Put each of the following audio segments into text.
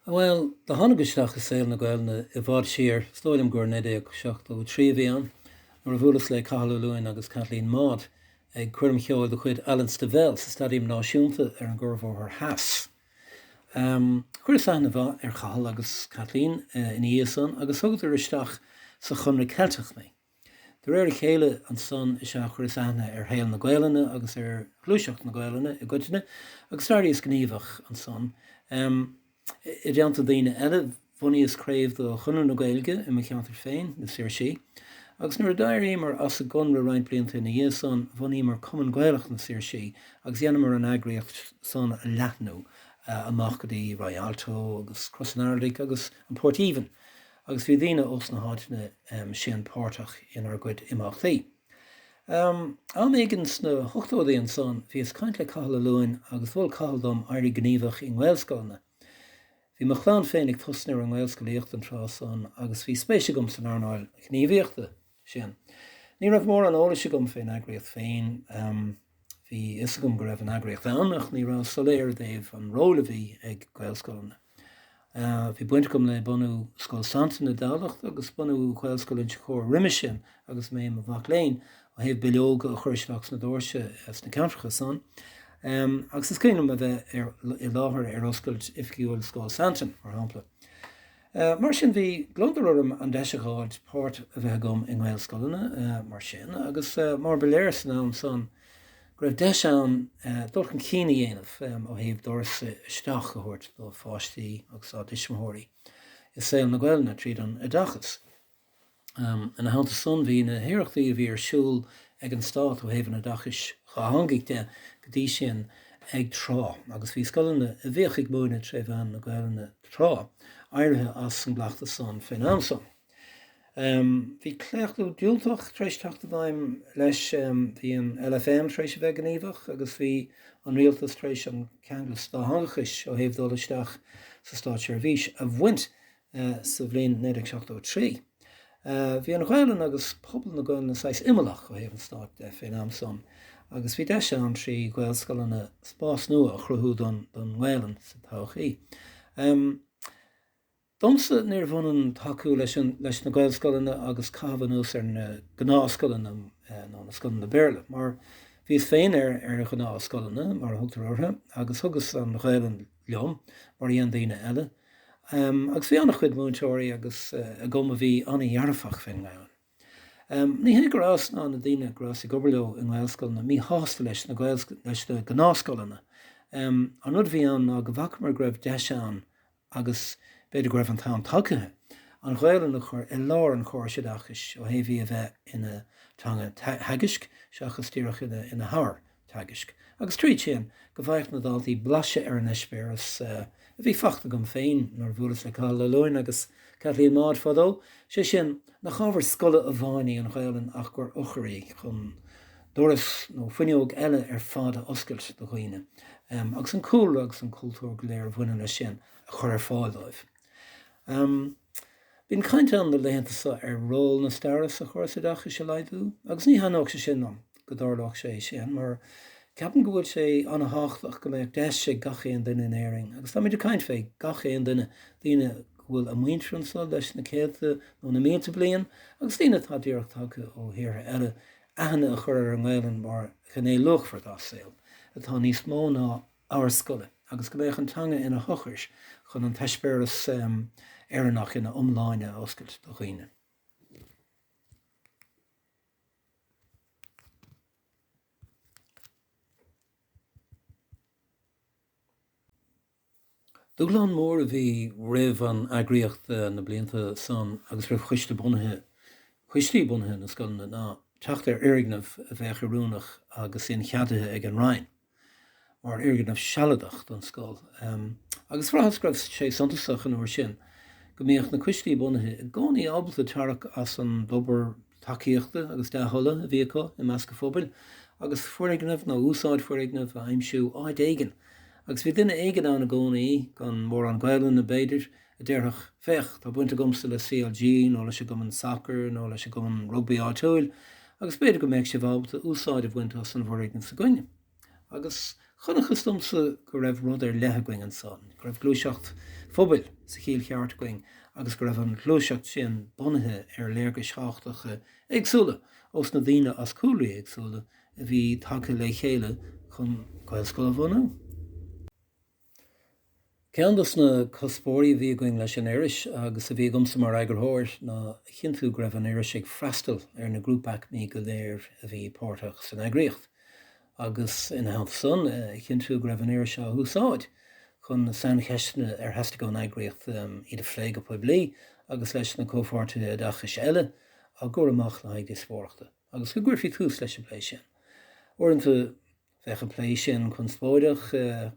Bhuel, do tháinig isteach i saol na Gaelainne i bhfad siar, is dóigh liom gur i 1973 a bhí ann, nuair a bhuaileas le Cathal Ó Luain agus Kathleen Maude ag coirm cheoil de chuid Alan Stivell sa Staidiam Náisiúnta ar an gCuarbhóthar Theas. Chuireas aithne mhaith ar Chathal agus Kathleen ina dhiaidh san agus thugadar isteach sa Chonradh Ceilteach mé. De réir a chéile ansan is ea a chuireas aithne ar shaol na Gaelainne agus ar ghluaiseacht na Gaelainne i gcoitinne agus d'éiríos gníomhach ansan. I dteannta daoine eile bhunaíos craobh de Chonradh na Gaeilge i mo cheantar féin, Na Saoirsí, agus nuair a d'éiríomar as an gConradh roinnt blianta ina dhiaidh san bhunaíomar Cumann Gaelach na Saoirsí agus dheineamar an eagraíocht san a leathnú amach go dtí Rialto agus Cros Araild agus an Port Aoibhinn. Agus bhí daoine ós na háiteanna sin páirteach inár gcuid imeachtaí. Am éigin sna hochtóidí ansan, bhíos ag caint le Cathal Ó Luain agus mhol Cathal dom éirí gníomhach i nGaelscoileanna. Bhí mo chlann féin ag tosnú ar an ngaelscolaíocht an tráth san agus bhí spéis agam san earnáil ghníomhaíochta. sin. Ní raibh mórán eolais agam fén eagraíocht féin. Bhí fhios agam go raibh an eagraíocht ann ach ní rabhas soiléir i dtaobh an róil a bhí ag Gaelscoileanna. Bhí baint agam le bunú Scoil Santain i dTamhlacht agus bunú Ghaelscoil Inse Chór roimis sin agus mé i mo mhac léinn, ó thaobh bileoga a chur isteach sna dóirse sna ceantracha san agus is cuimhin liom a bheith i láthair ar oscailt oifigiúil Scoil Santain, mar shampla. Mar sin bhí gliondar orm an deis a dh'fháilt páirt a bheith agam i nGaelscoileanna mar sin agus mar ba léir san am san go raibh deis ann dul chun cinn a dhéanamh ó thaobh doras isteach a thabhairt do pháistí agus dá dtuismitheoirí i saol na Gaelainne tríd an oideachas. Ina theannta san, bhí na hiarrachtaí a bhí ar siúl ag an Stát ó thaobh an oideachais dhátheangaigh de go dtí sin ag trá, agus bhí scoileanna a bhíodh ag múineadh tré mheán na Gaelainne tráth, éirithe as an gcleachtas san fén am san. Bhí claochlú diúltach tar éis teacht i bhfeidhm, leis. Bhí an LFM tar éis a bheith gníomhach, agus bhí an Rialtas tar éis an ceanglas dátheangachais ó thaobh dul isteach sa Státseirbhís a bhaint sa bhliain 1973. Bhí an Ghaelainn agus pobal na Gaelainne saghas imeallach ó thaobh an stáit fén am san agus bhí deis ann, trí Ghaelscoileanna, spás nua a chruthú don nGaelainn sa todhchaí. Domsa, níorbh ionann tacú leis na Gaelscoileanna agus caitheamh anuas ar na gnáthscoileanna nó na scoileanna Béarla, mar bhíos féin ar ghnáthscoileanna, mar a thugtar orthu, agus thugas an Ghaelainn liom, mar a dhein daoine eile. Agus bhí an-chuid múinteoirí agus aicmí a bhí an-dhearfach faoin nGaelainn. Ní hé go rabhas ná na daoine go rabhas ag obair leo i nGaelscoileanna míshásta leis na leis na gnáthscoileanna. An rud a bhí ann ná go bhfacamar go raibh deis ann, agus b'fhéidir go raibh an t-am tagtha, an Ghaelainn a chur i lár an chórais oideachais ó thaobh í a bheith ina teanga theagaisc seachas díreach ina habhar teagaisc, agus tríd sin, go bhfaigheadh na daltaí blaiseadh ar an eispéireas a bhí faighte agam féin nuair a bhuaileas le Cathal Ó Luain agus Kathleen Maude fadó, sé sin, nach ábhar scoile amháin í an Ghaelainn ach gur eochair í chun doras nó fuinneog eile ar fad a oscailt do dhaoine, agus an cúlra agus an cultúr go léir a bhaineann leis sin a chur ar fáil dóibh. Bíonn caint ann na laethanta seo ar ról na staire sa Chóras Oideachais a laghdú, agus ní thaitneodh sé sin liom go dtarlódh sé sin, mar ceapaim go bhfuil sé an-tháchtach go mbeadh deis ag gach aon duine in Éirinn, agus táimid ag caint fé gach aon duine, daoine go bhfuil a muintir anso leis na céadta nó na mílte bliain, agus daoine atá díreach tagtha ó thíortha eile, aithne a chur ar an nGaelainn mar ghné luachmhar dá saol, atá níos mó ná ábhar scoile agus go mbeadh an teanga ina heochair chun an t-eispéireas Éireannach ina iomláine a oscailt do dhaoine. Dúshlán mór a bhí roimh an eagraíocht na blianta san agus roimh choiste bunaithe, coistí bunaithe na scoileanna ná teacht ar fhoirgneamh a bheadh oiriúnach agus incheadaithe ag an Roinn. mar fhoirgneamh sealadach don scoil agus bhraitheas go raibh sé suntasach an uair sin go mbíodh na coistí bunaithe i gcónaí ábalta tarrac as an dtobar tacaíochta agus dea-thola a bhí acu i measc an phobail agus foirgneamh nó úsáid foirgneamh a aimsiú áit éigin agus bhí duine éigin ann i gcónaí, gan mórán Gaelainne b'fhéidir, a déarfadh, Féach, tá baint agamsa le CLG, nó leis an gcumann sacair, nó leis an gcumann rugbaí áitiúil, agus b'fhéidir go mbeadh sibh ábalta úsáid a bhaint as an bhfoirgneamh s'againn. Agus chonacthas domsa go raibh rud ar leith againn ansan, go raibh gluaiseacht phobail sa chiall cheart againn, agus go raibh an ghluaiseacht sin bunaithe ar léargais thábhachtacha éagsúla ós na daoine as cúlraí éagsúla a bhí tagtha le chéile chun Gaelscoil a bhunú. Ceann dos na cuspóirí a bhí againn leis an iris, agus a bhí agamsa mar eagarthóir, ná a chinntiú go raibh an iris ag freastal ar na grúpaí, aicmí go léir a bhí páirteach san eagraíocht, agus ina theannta san, a chinntiú go raibh an iris á húsáid chun na saincheisteanna ar theastaigh ón eagraíocht iad a phlé go poiblí agus leis na comhpháirtithe oideachais eile á gcur amach le haghaidh díospóireachta, agus go gcuirfí tús leis an bplé sin. Uaireanta. Bhíodh an plé sin conspóideach,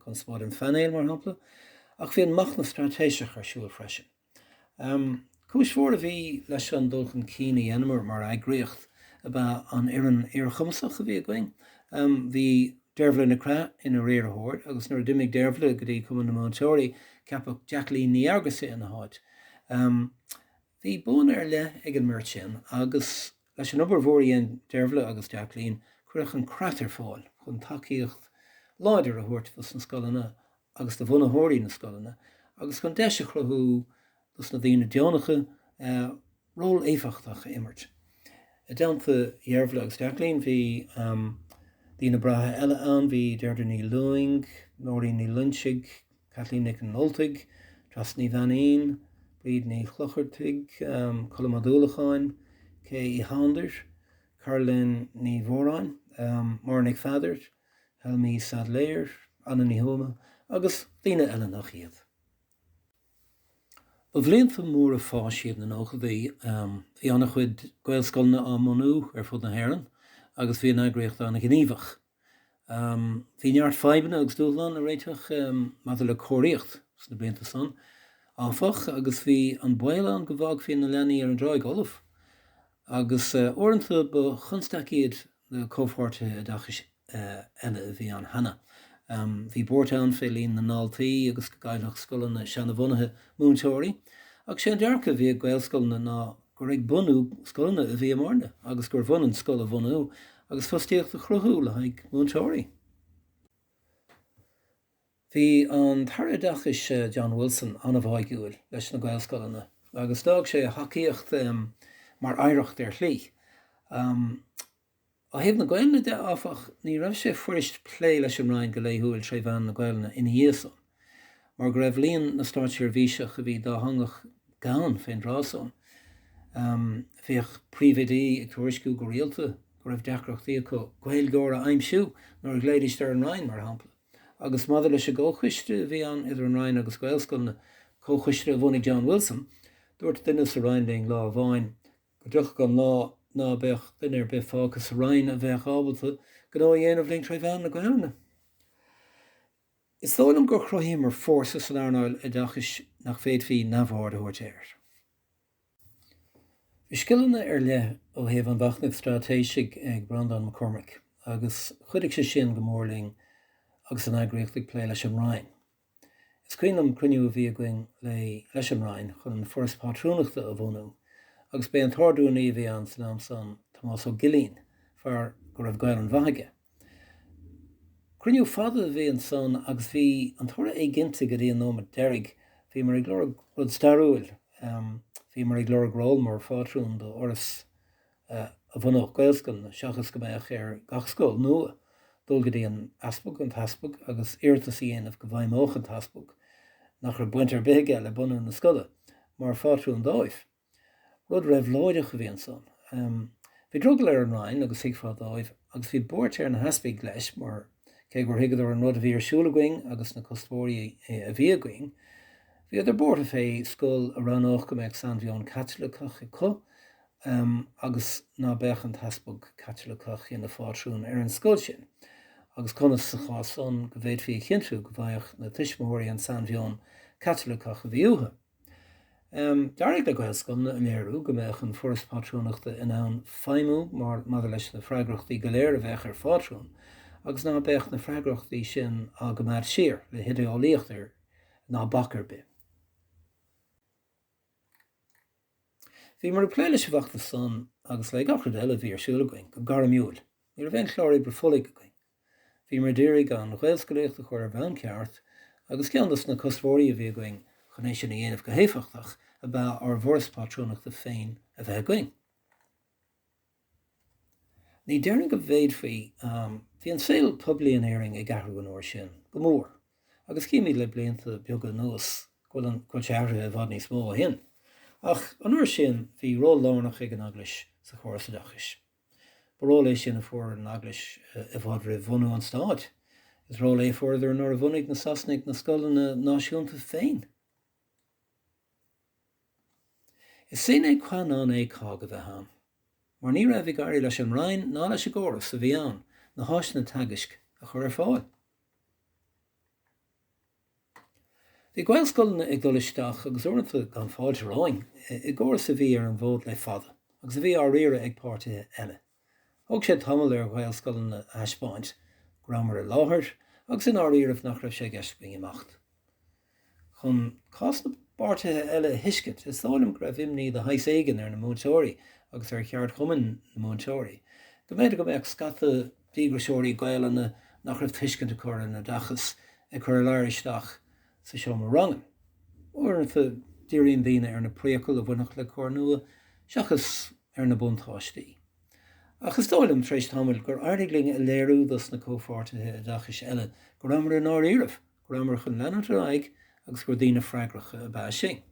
conspóid an phainéil, mar shampla, ach bhí an machnamh straitéiseach ar siúl freisin. Cúis mhór a bhí leis an dul chun cinn a dheineamar mar eagraíocht ab ea an fhoireann fhíorchumasach a bhí againn. Bhí Deirbhile Nic Craith ina riarthóir agus nuair a d'imigh Deirbhile go dtí Cumann na Múinteoirí, ceapadh Jacqueline Ní Fhearghusa ina háit. Bhí buanna ar leith ag an mbeirt sin agus, leis an obair mhór a dhein Deirbhile agus Jacqueline, cuireadh an creat ar fáil chun tacaíocht láidir a thabhairt dos na scoileanna agus do bhunaitheoirí na scoileanna agus chun deis a chruthú dos na daoine deonacha ról éifeachtach a imirt. I dteannta Dheirbhile agus Jacqueline bhí daoine breátha eile ann, bhí Deirdre Ní Lúing, Nóirín Ní Loingsigh, Kathleen Nic an Ultaigh, Treasa Ní Bheainín, Bríd Ní Chlochartaigh, Colm Ó Dúlacháin, Kay Uí Shándair, Caroline Ní Mhóráin, Máire Nic Pheadair, Helmi Saidléar, Anna Ní Thuama agus daoine eile nach iad. Ba bhlianta móra fáis iad na nóchadaí. Bhí an-chuid Gaelscoileanna á mbunú ar fud na hÉireann agus bhí an eagraíocht an-ghníomhach. Bhí neart fadhbanna agus dúshlán le réiteach maidir le cóiríocht sna blianta san, áfach, agus bhí an baol ann go bhfágfaí na leanaí ar an dtráigh fholamh, agus uaireanta ba chonstaic iad na comhpháirtithe oideachais eile a bhí ann cheana. Bhí buairt ann fé líon na ndaltaí agus go gcaillfeadh scoileanna seanabhunaithe múinteoirí, ach sé an dearcadh a bhí ag Gaelscoileanna ná gur ag bunú scoileanna a bhíomarna agus gurbh ionann scoil a bhunú agus fostaíocht a chruthú le haghaidh múinteoirí. Bhí an tAire Oideachais, John Wilson, an-bháigiúil leis na Gaelscoileanna agus d'fhág sé a thacaíocht mar oidhreacht ar shlí. Ó thaobh na Gaelainne de, áfach, ní raibh sé fuirist plé leis an Roinn go laethúil tré mheán na Gaelainne ina dhiaidh san, mar go raibh líon na státseirbhíseach a bhí dátheangach gann fén dtráth san. Bhíodh príomhoidí ag tuairisciú go rialta go raibh deacrachtaí acu Gaeilgeoir a aimsiú nuair a ghlaoidís ar an Roinn, mar shampla. Agus maidir leis an gComhchoiste a bhí ann idir an Roinn agus Gaelscoileanna, comhchoiste a bhunaigh John Wilson, dúirt duine sa Roinn linn lá amháin Go dtiocfadh an lá ná beadh duine ar bith fágtha sa Roinn a bheadh ábalta gnó a dhéanamh linn tré mheán na Gaolainne. Is dóigh liom gur chruthaíomar fórsa san earnáil oideachais nach bhféadfaí neamhaird a thabhairt air. Bhí scileanna ar leith ó thaobh an mhachnaimh straitéisigh ag Breandán Mac Cormaic agus chuidigh sé sin go mór linn agus an eagraíocht ag plé leis an Roinn. Is cuimhin liom cruinniú a bhí againn léi leis an Roinn chun an Foras Pátrúnachta a bhunú agus b'é an t-ardrúnaí a bhí ann san am san, Tomás Ó Gillín, fear go raibh Gaelainn mhaith aige. Cruinniú fada a bhí ansan agus bhí an toradh éiginnte go dtí an nóimeat deiridh. Bhíomar ag lorg rud stairiúil, bhíomar ag lorg ról mar phátrún do Fhoras a bhunódh Gaelscoileanna seachas go mbeadh ar gach scoil nua dul go dtí an easpag, an tEaspag agus iarratas a dhéanamh go bhfeidhmeodh an tEaspag, nach raibh baint ar bith aige le bunú na scoile, mar phátrún dóibh. Rud reabhlóideach a bhí ansan. Bhí drogall ar an Roinn agus thuigfeá dóibh agus bhí buairt ar na heaspaig leis mar, cé gur thuigeadar an rud a bhí ar siúl againn agus na cuspóirí a bhí againn, bhíodar buartha fé scoil a roghnódh go mbeadh sainmheon Caitliceach acu Agus ná beadh an t-easpag Caitiliceach ina phátrún ar an scoil sin? Agus conas, sa chás san, go bhféadfaí a chinntiú go bhfaigheadh na tuismitheoirí an sainmheon Caitiliceach a bhí uathu? D'éirigh le Gaelscoileanna a léiriú go mbeadh an Foras Pátrúnachta in ann feidhmiú mar, maidir leis na freagrachtaí go léir a bheadh ar phátrún, agus ná beadh na freagrachtaí sin á gcoimeád siar, le hidéolaíocht ar, ná bac ar bith. Bhíomar ag plé leis an bhfeachtas san agus le gach rud eile a bhí ar siúl againn go gairmiúil. Ní raibh aon chlár oibre folaigh againn. Bhíomar ag iarraidh an Ghaelscolaíocht a chur ar bhonn ceart agus ceann dos na cuspóirí a bhí againn chun é sin a dhéanamh go héifeachtach ab ea ár bhForas Pátrúnachta féin a bheith againn. Ní déarfainn go bhféadfaí. Bhí an saol poiblí in Éirinn ag athrú an uair sin, go mór, agus címid le blianta beaga anuas go bhfuil sé athraithe i bhfad níos mó ó shin. Ach an uair sin bhí ról lárnach ag an Eaglais sa chóras oideachais. Ba ról é sin a fuair an Eaglais i bhfad roimh bhunú an Stáit. Is ról é a fuaireadar nuair a bhunaigh na Sasanaigh na scoileanna náisiúnta féin. Is sine qua non é COGG a bheith ann, mar ní raibh ag éirí leis an Roinn ná leis an gcóras a bhí ann na háiseanna teagaisc a chur ar fáil. Bhí Gaelscoileanna ag dul isteach, agus uaireanta gan fáilte romhainn, i gcóras a bhí ar an bhfód le fada, agus a bhí á riaradh ag páirtithe eile. Thóg sé tamall ar Ghaelscoileanna a thaispeáint go rabhamar i láthair agus i ndáiríribh nach raibh sé i gceist againn imeacht. Chun cás na bpáirtithe eile a thuiscint, is dóigh liom go raibh imní de shaghas éigin ar na múinteoirí agus ar cheardchumann na múinteoirí go mb'fhéidir go mbeadh scata díograiseoirí Gaelainne nach raibh tuiscint acu ar an oideachas ag cur a ladhar isteach sa seomra ranga. Uaireanta, díríonn daoine ar na priacail a bhainfeadh le cor nua seachas ar na buntáistí. Ach is dóigh liom, tar éis tamaill, gur éirigh linn a léiriú dos na comhpháirtithe oideachais eile go rabhamar i ndáiríribh, go rabhamar chun leanúint ar aghaidh agus gur daoine freagracha ab ea sinn.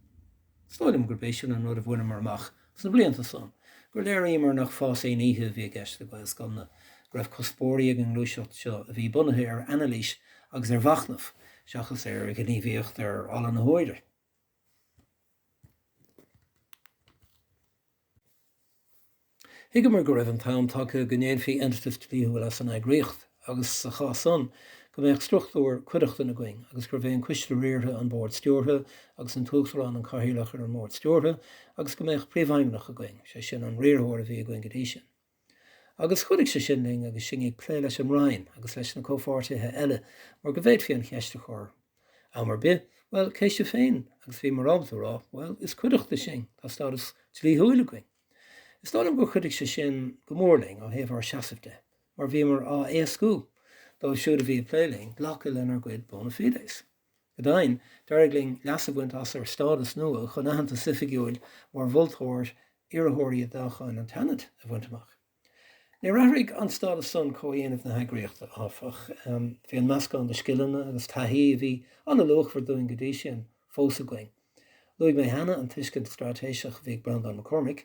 Is dóigh liom gurb é sin an rud a bhaineamar amach sna blianta san, gur léiríomar nach fás aon oíche a bhí i gceist le Gaelscoileanna, go raibh cuspóirí ag an ngluaiseacht seo a bhí bunaithe ar anailís agus ar mhachnamh seachas ar ghníomhaíocht ar ala na huaire. Thuigeamar go raibh an t-am tagtha go ndéanfaí eintiteas dlíthiúil as an eagraíocht agus, sa chás san, go mbeadh struchtúr cuideachtan againn agus gurbh é an coiste riartha an bord stiúrtha agus an tUachtarán an cathaoirleach ar an mbord stiúrtha agus go mbeadh príomhfheidhmeannach againn, sé sin, an riarthóir a bhí againn go dtí sin. Agus chuidigh sé sin linn agus sinn ag plé leis an Roinn agus leis na comhpháirtithe eile mar go bhféadfaí an cheist a chur am ar bith, bhuel, cé sibhse féin agus bhíomar ábalta a rá, bhuel, is cuideachta sinn, tá stádas dlíthiúil againn. Is dóigh liom gur chuidigh sé sin go mór linn ó thaobh ár seasaimh de mar bhíomar á éascú dóibh siúd a bhí ag plé linn glacadh lenár gcuid bona fides. Go deimhin, d'éirigh linn leas a bhaint as ar stádas nua chun aitheantas oifigiúil mar mholtóir iarrthóirí i dtoghcháin an tSeanaid a bhaint amach. Níor athraigh an stádas san comhdhéanamh na heagraíochta, áfach. Bhí an meascán de scileanna agus taithí a bhí an-luachmhar dúinn go dtí sin, fós againn. Luaigh mé cheana an tuiscint straitéiseach a bhí ag Breandán Mac Cormaic.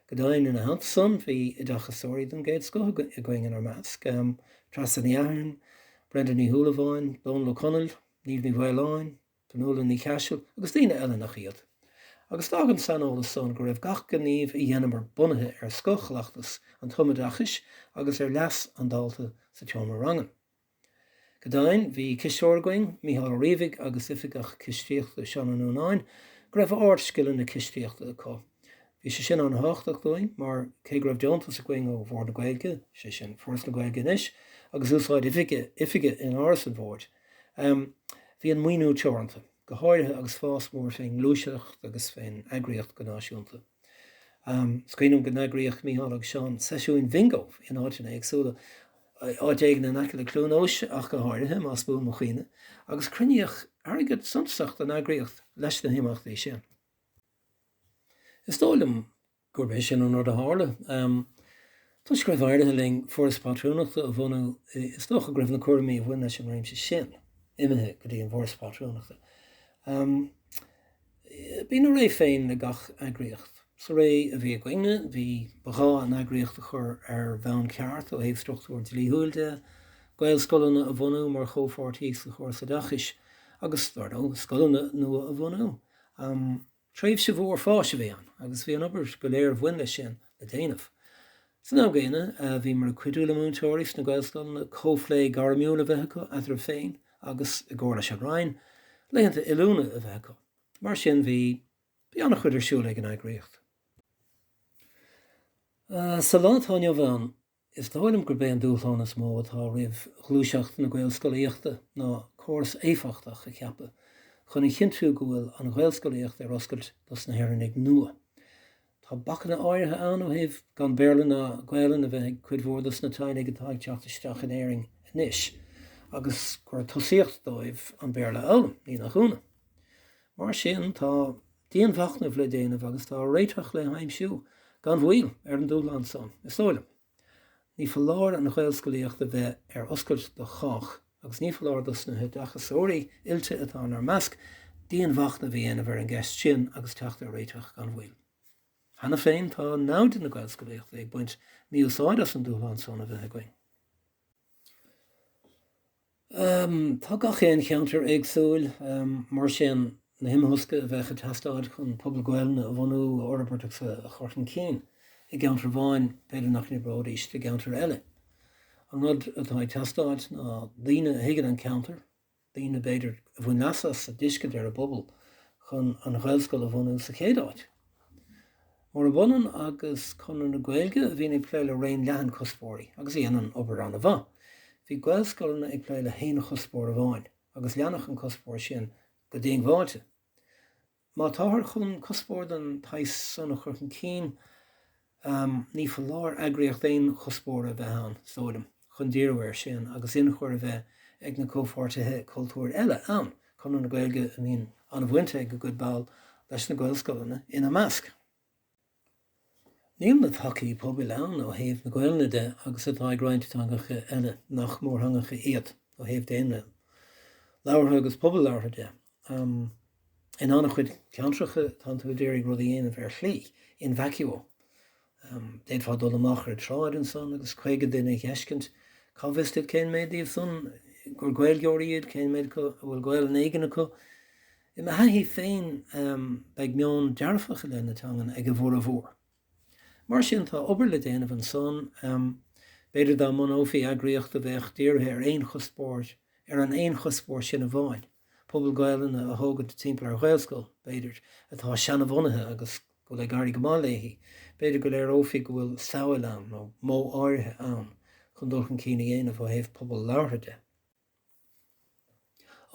Go deimhin, ina theannta san, bhí oideachasóirí den gcéad scoth againn inár measc, Treasa Ní Eachthairn, Brenda Ní Shúilleabháin, Dónall Ó Conaill, Niamh Ní Mhaoláin, Fionnuala Ní Chaisil agus daoine eile nach iad. Agus d'fhág an saineolas san go raibh gach gníomh a dheineamar bunaithe ar scothchleachtas an tumoideachais agus ar leas an dalta sa tseomra ranga. Go deimhin, bhí cisteoir againn, Micheál Ó Riabhaigh, agus Oifigeach Cistíochta, Seán Ó Nuanáin, go raibh ard-scileanna cistíochta acu. Bhí sé sin an-thábhachtach dúinn mar, cé go raibh deontas againn ó Bhord na Gaeilge, sé sin, Foras na Gaeilge anois, agus úsáid oifige in Áras an Bhoird, bhí an maoiniú teoranta, go háirithe agus fás mór fén ngluaiseacht agus fén eagraíocht go náisiúnta. Is cuimhin liom go n-eagraíodh Micheál agus Seán seisiúin Bhingo in áiteanna éagsúla, áit éigin in aice le Cluain Eois ach go háirithe, más buan mo chuimhne, agus cruinníodh airgead suntasach don eagraíocht leis na himeachtaí sin. Is dóigh liom gurb é sin an rud a tharla. Toisc go raibh éirithe linn Foras Pátrúnachta a bhunú, is dócha go raibh na cúraimí a bhain leis an réimse sin imithe go dtí an bhForas Pátrúnachta. Bíonn a ré féin le gach eagraíocht. Sa ré a bhí againne, bhí, ba ghá an eagraíocht a chur ar bhonn ceart ó thaobh struchtúr dlíthiúil de, Gaelscoileanna a bhunú mar chomhpháirtí sa Chóras Oideachais agus, dar ndóigh, scoileanna nua a bhunú. Tréimhse mhór fáis a bhí ann agus bhí an obair go léir a bhain leis sin le déanamh. San am gcéanna, bhíomar ag cuidiú le múinteoirí sna Gaelscoileanna comhphlé gairmiúil a bheith acu eatarthu féin agus, i gcomhar leis an Roinn, laethanta oiliúna a bheith acu. Mar sin, bhí bhí an-chuid ar siúl ag an eagraíocht. Sa lá atá inniu ann, is dóigh liom gurb é an dúshlán is mó atá roimh ghluaiseacht na Gaelscolaíochta ná córas éifeachtach a cheapadh chun a chinntiú go bhfuil an Ghaelscolaíocht ar oscailt dos na hÉireannaigh nua. Tá bacanna áirithe ann ó thaobh gan Béarla ná Gaolainn a bheith ag cuid mhór dos na teaghlaigh atá ag teacht isteach in Éirinn anois agus gur tosaíocht dóibh an Béarla a fhoghlaim, ní nach ionadh. Mar sin, tá dianmhachnamh le déanamh agus tá réiteach le haimsiú gan mhoill ar an dúshlán san, is dóigh liom. Ní foláir an Ghaelscolaíocht a bheith ar oscailt do chách agus ní foláir dos na hoideachasóirí oilte atá inár measc dianmhachnamh a dhéanamh ar an gceist sin agus teacht ar réiteach gan mhoill. Cheana féin tá naimhde na Gaelscolaíochta ag baint mí-úsáid as an dúshlán san a bheith againn. Tá gach aon cheantar éagsúil, mar sin na himthosca a bheadh ag teastáil chun pobal Gaolainne a bhunú, a fhorbairt agus a chur chun cinn i gceantar amháin, b'fhéidir nach n-oibreoidís do gceantar eile. An rud atá ag teastáil ná daoine a thuigeann an ceantar, daoine, b'fhéidir, a bhain leas as a dtuiscint ar a bpobal chun an ghaelscoil a bhunú sa chéad áit. Murab ionann agus Conradh na Gaeilge a bhíonn ag plé le raon leathan cuspóirí agus a dhéanann obair an-mhaith. Bhí Gaelscoileanna ag plé le haon chuspóir amháin agus leanfadh an cuspóir sin go diongbháilte. Má táthar chun cuspóir den tsaghas san a chur chun cinn ní foláir eagraíocht aon chuspóra a bheith ann, is dóigh liom. chun díriú air sin agus ionchur a bheith ag na comhpháirtithe cultúir eile ann, Conradh na Gaeilge a mbíonn an-bhaint ag a gcuid ball leis na Gaelscoileanna ina measc. Níl na tacaí pobail ann ó thaobh na Gaolainne de agus atá ag roinnt teangacha eile nach mórtheangacha iad ó thaobh daonra labhartha agus pobal labhartha de, In an-chuid ceantracha, tánn tú ag iarraidh rud a dhéanamh ar shlí in vacuo. D'fhéadfá dul amach ar an tsráid ansan agus caoga duine a fheiscint. Cá bhfios duit cén méid díobh san gur Gaeilgeoirí iad, cén méid acu a bhfuil Gaolainn éigin acu. I mo thaithí féin, beidh meon dearfach i leith na teangan ag a bhformhór. Mar sin, tá obair le déanamh ansan. B'fhéidir dá mbunófaí eagraíocht a bheadh dírithe ar aon chuspóir, ar an aon chuspóir sin amháin, pobal Gaolainne a thógaint timpeall ar Ghaelscoil b'fhéidir, atá seanabhunaithe agus go bhfuil ag éirí go maith léithi, b'fhéidir go léireofaí go bhfuil samhail ann nó modh áirithe ann chun dul chun cinn a dhéanamh ó thaobh pobal labhartha de.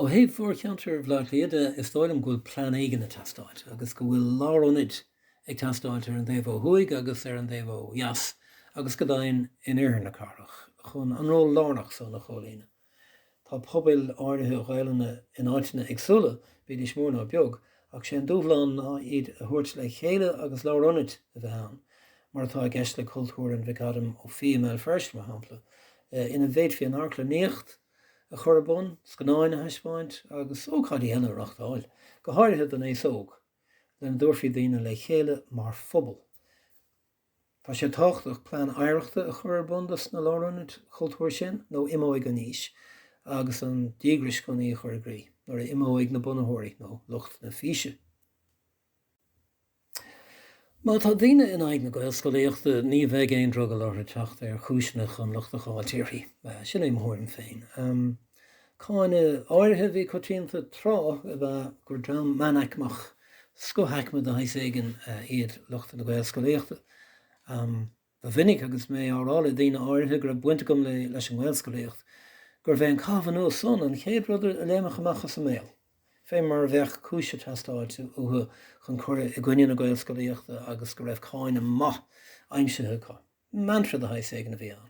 Ó thaobh mhórcheantar Bhleá Cliath de, is dóigh liom go bhfuil plean éigin ag teastáilt agus go bhfuil lárionaid ag teastáilt ar an dtaobh ó thuaidh agus ar an dtaobh ó dheas agus go deimhin in oirthear na cathrach chun an ról lárnach san a chomhlíonadh. Tá pobail áirithe Gaolainne in áiteanna éagsúla, bídís mór nó beag, ach sé an dúshlán ná iad a thabhairt le chéile agus lárionad a bheith ann, mar atá i gceist le Cultúrlann Mhic Ádaim Ó Fiaich i mBéal Feirste, mar shampla, ina bhféadfaí an amharclannaíocht a chur ar bun, scannáin a thaispeáint agus ócáidí eile a reáchtáil, go háirithe don aos óg, lena dtabharfaí daoine le chéile mar phobal. Tá sé tábhachtach plean oidhreachta a chur ar bun dos na lárionaid chultúir sin nó imeoidh an fhís agus an díograis chun í a chur i gcrích nuair a imeoidh na bunaitheoirí nó lucht na físe. Má tá daoine in aghaidh na Gaelscolaíochta, ní bheidh aon drogall orthu teacht ar chúiseanna chun locht a fháilt uirthi. Sin é mo thuairim féin. Cáineadh áirithe a bhí coitianta tráth ab ea gur dream meánaicmeach, scothaicme de shaghas éigin, iad lucht na Gaelscolaíochta. Ba mhinic agus mé á rá le daoine áirithe go raibh baint agam leis an nGaelscolaíocht, gurbh é an caitheamh anuas san an chéad rud a léimfeadh amach as a mbéal, fé mar a bheadh cúis ag teastáilt uathu chun cur i gcoinne na Gaelscolaíochta agus go raibh cáineadh maith aimsithe acu. Mantra de shaghas éigin a bhí ann.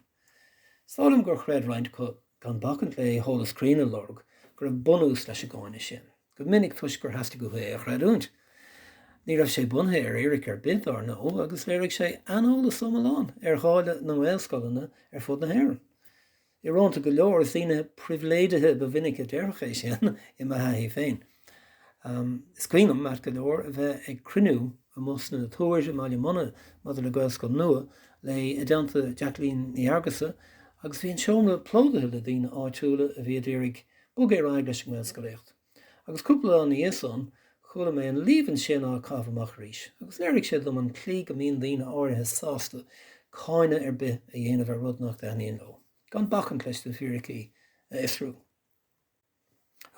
Is dóigh liom gur chreid roinnt acu, gan bacaint le heolas cruinn a lorg, go raibh bunús leis an gcáineadh sin, go minic toisc gur theastaigh uathu é a chreidiúint. Ní raibh sé bunaithe ar fhíric ar bith, dár ndóigh, agus léirigh sé aineolas iomlán ar dháileadh na nGaelscoileanna ar fud na hÉireann. Íorónta go leor, is daoine pribhléidithe ba mhinice a déarfadh é sin, i mo thaithí féin. Is cuimhin liom, ait go leor, a bheith ag cruinniú amuigh sna Túir i mBaile Munna maidir le Gaelscoil nua, i dteannta Jacqueline Ní Fheargusa, agus bhí an seomra plódaithe le daoine áitiúla a bhí a d'iarraidh bogadh ar aghaidh leis an nGaelscolaíocht. Agus cúpla lá ina dhiaidh san, chuala mé an líomhain sin á caitheamh amach arís, agus léirigh sé dom an tslí go mbíonn daoine áirithe sásta cáineadh ar bith a dhéanamh ar rud nach dtaitníonn leo, gan bacaint leis na fíricí a fhiosrú.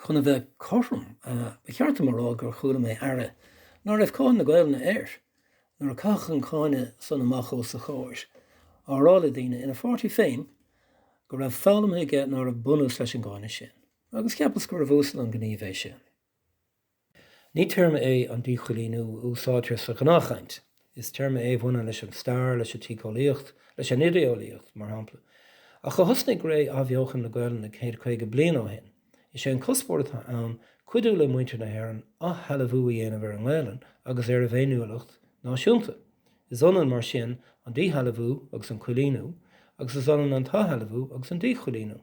Chun a bheith cothrom, ba cheart dom a rá gur chuala mé aire ná raibh cáil na Gaolainne air, nuair a caitheadh an cáineadh san amach os a chomhair, á rá le daoine ina pháirtí féin go raibh foghlamtha aige ná raibh bunús leis an gcáineadh san. Agus cheapas gurbh uasal an gníomh é sin. Ní téarma é an díchoilíniú a úsáidtear sa ghnáthchaint. Is téarma é a bhaineann leis an stair, leis an tsíceolaíocht, leis an idéolaíocht, mar shampla. Ach ó thosnaigh ré athbheochan na Gaelainne céad caoga bliain ó shin, is é an cuspóir atá ann cuidiú le muintir na hÉireann athshealbhú a dhéanamh ar an nGaelainn agus ar a bhféiniúlacht náisiúnta. Is ionann, mar sin, an díshealbhú agus an coilíniú, agus is ionann an t-athshealbhú agus an díchoilíniú.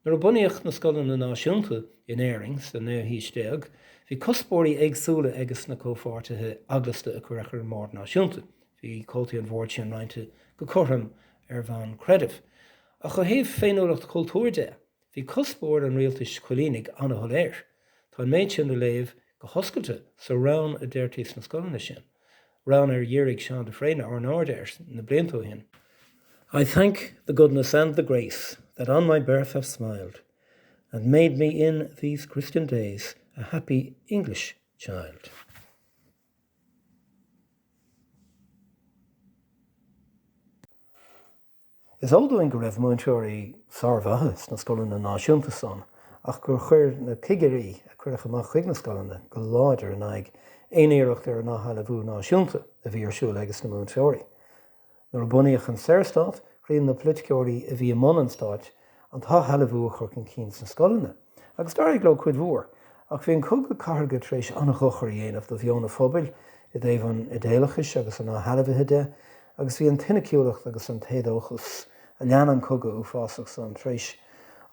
Nuair a bunaíodh na Scoileanna Náisiúnta in Éirinn sa naoú haois déag, bhí cuspóirí éagsúla ages na comhpháirtithe eaglasta a cuireadh ar an mBord Náisiúnta. Bhí comhaltaí an Bhoird sin roinnte go cothrom ar bhonn creidimh. Ach ó thaobh féiniúlacht chultúir de, bhí cuspóir an rialtais choilínigh an-shoiléir. Tá an méid sin le léamh go hoscailte sa rann a deirtí sna scoileanna sin, rann ar dhírigh Seán de Fréine ár n-aird air na blianta ó shin. I thank the goodness and the grace That on my birth have smiled, And made me in these Christian days A happy English child. Is eol dúinn go raibh múinteoirí sármhaithe sna scoileanna náisiúnta san ach gur chuir na cigirí a cuireadh amach chuig na scoileanna go láidir in aghaidh aon iarracht ar an athshealbhú náisiúnta a bhí ar siúl ages na múinteoirí. Nuair a bunaíodh an Saorstát, chinn na poiliticeoirí a bhí i mbun an stáit, an t-athshealbhú a chur chun cinn sna scoileanna, agus d'éirigh leo cuid mhór. Ach bhí an cogadh cathartha tar éis an-dhochar a dhéanamh do mheon an phobail i dtaobh an idéalachais agus an athshealbhaithe de, agus bhí an tsoiniciúlacht agus an t-éadóchas a lean an cogadh uafásach san tar éis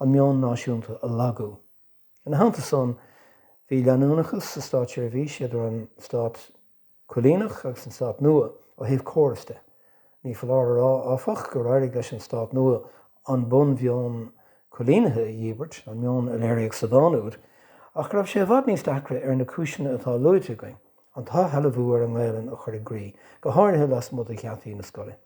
an meon náisiúnta a lagú. Ina theannta san, bhí leanúnachas sa státseirbhís idir an stát coilíneach agus an stát nua ó thaobh córas de. Ní foláir a rá, áfach, gur éirigh leis an stát nua an bunmheon coilínithe a dhíbirt, an meon a léiríodh sa dán úd, ach go raibh sé i bhfad níos deacra ar na cúiseanna atá luaite againn an t-athshealbhú ar an nGaelainn a chur i gcrích, go háirithe lasmuigh de gheataí na scoile.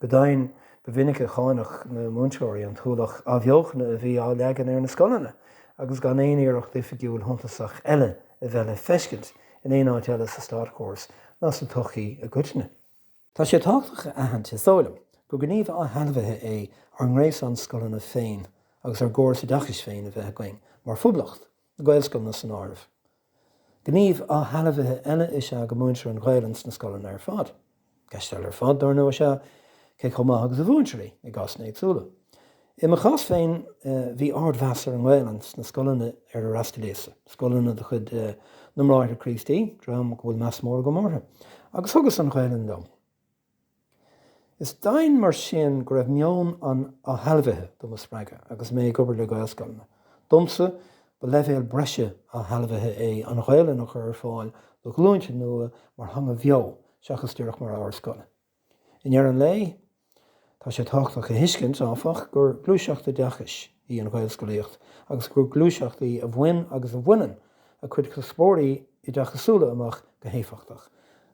Go deimhin, ba mhinic a cháineadh na múinteoirí an t-ualach athbheochana a bhí á leagan ar na scoileanna agus gan aon iarracht oifigiúil shuntasach eile a bheith le feiscint in aon áit eile sa státchóras ná sa tsochaí i gcoitinne. Tá sé tábhachtach a aithint, is dóigh liom, gur gníomh athshealbhaithe é ár ngréasán scoileanna féin agus ár gcóras oideachais féin a bheith againn mar Phoblacht. Gaelscoileanna san áireamh. Gníomh athshealbhaithe eile is ea go múintear an Ghaelainn sna scoileanna ar fad. Ceist eile ar fad, dár ndóigh, is ea cé chomh maith agus a mhúintear í, i gcásanna éagsúla. I mo chás féin, bhí ardmheas ar an nGaelainn sna scoileanna ar ar fhreastalaíos-sa, scoileanna de chuid na mBráithre Críostaí, dream go bhfuil meas mór agam orthu, agus thugas an Ghaelainn liom. Is deimhin mar sin go raibh meon an athshealbhaithe do mo spreagadh agus mé ag obair le Gaelscoileanna. Domsa, ba leibhéal breise athshealbhaithe é an Ghaolainn a chur ar fáil do ghlúinte nua mar theanga bheo seachas díreach mar ábhar scoile. I ndeireadh an lae, tá sé tábhachtach a thuiscint, áfach, gur gluaiseacht oideachais í an Ghaelscolaíocht agus gur gluaiseacht í a bhain agus a bhaineann a cuid cuspóirí oideachasúla amach go héifeachtach.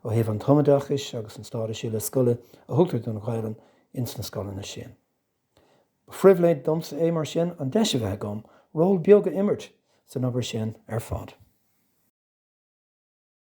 Ó thaobh an tumoideachais agus an stádais uile scoile a thugtar don Ghaolainn ins na scoileanna sin, ba phribhléid domsa é, mar sin, an deis a bheith agam ról beag a imirt san obair sin ar fad.